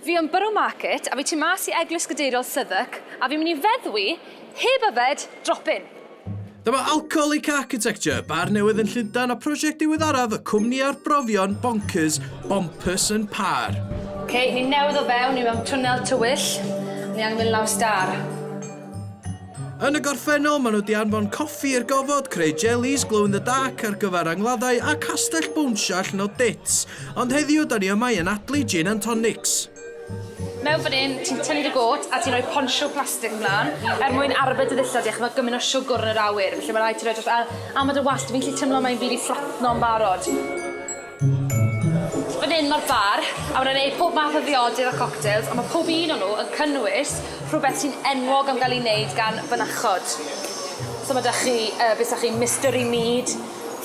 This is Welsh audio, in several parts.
Fi yn Borough Market a fi tu mas i Eglwys Gadeiriol Southwark a fi'n mynd i feddwi, heb yfed, drop in. Dyma Alcoholic Architecture, bar newydd yn Llundain a prosiect diweddaraf y cwmni arbrofion bonkers Bompers and Par. Ok, ni newydd o fewn, ni mewn twnnel tywyll, ni angen mynd lawr stâr. Yn y gorffennol, maen nhw 'di anfon coffi i'r gofod, creu jellies glow in the dark ar gyfer angladdau a castell bownsio allan o dits. Ond heddiw, 'da ni yma i anadlu gin and tonics. Mewn fan hyn, ti'n tynnu dy gôt a ti'n rhoi ponsiw plastig mlaen er mwyn arbed dy ddillad di achos mae gymaint o siwgwr yn yr awyr, felly mae'n rhaid ti roi dros aer. A mae dy wast di, fi'n gallu teimlo mae'n mynd i fflatno'n barod. Fan hyn mae'r bar a mae'n wneud pob math o ddiodydd a coctels ond mae pob un o nhw yn cynnwys rhywbeth sy'n enwog am gael ei wneud gan fynachod. So mae 'da chi yy be' 'sa chi'n mystery mead,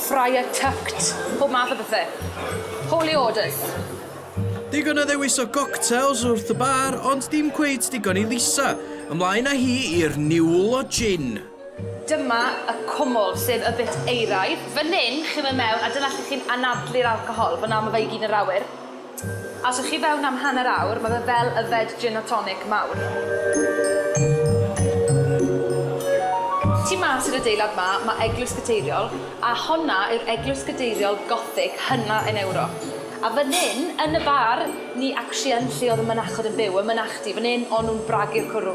Friar Tucked, pob math o bethe. Holy orders. Digon o ddewis o goctels wrth y bar ond dim cweit digon i Lisa. Ymlaen â hi i'r niwl o jin. Dyma y cwmwl, sef y bit euraidd. Fan hyn, chi'n mynd mewn a dyna lle chi'n anadlu'r alcohol. Fan'na ma' fe i gyd yn yr awyr. A os o'ch chi fewn am hanner awr, ma' fe fel yfed gin a tonic mawr. Tu mas i'r adeilad 'ma, ma' Eglwys Gadeiriol, a honna yw'r eglwys gadeiriol Gothig hynna yn Ewrop. A fan hyn, yn y bar, ni actually yn lle oedd y mynachod yn byw, y mynachdy, fan hyn o'n nhw'n bragu'r cwrw.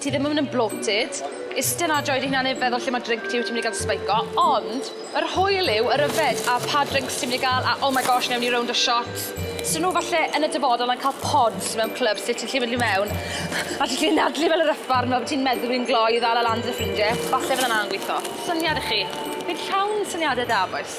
Ti ddim yn mynd yn bloated. Iste 'na a joio dy hunan heb feddwl lle mae drink ti, wyt ti'n mynd i gael spike o. Ond, yr hwyl yw yr yfed a pa drinks ti'n mynd i gael a oh my gosh, newn ni rownd o shots. So nhw falle yn y dyfodol yn cael pods mewn clwbs lle ti'n gallu mynd i mewn a ti'n gallu anadlu fel yr ysbarn fel bod ti'n meddwi'n gloi i ddal e lan 'da dy ffrindie. Falle fydda 'na'n gweithio. Syniad i chi. Fi'n llawn syniadau da, bois.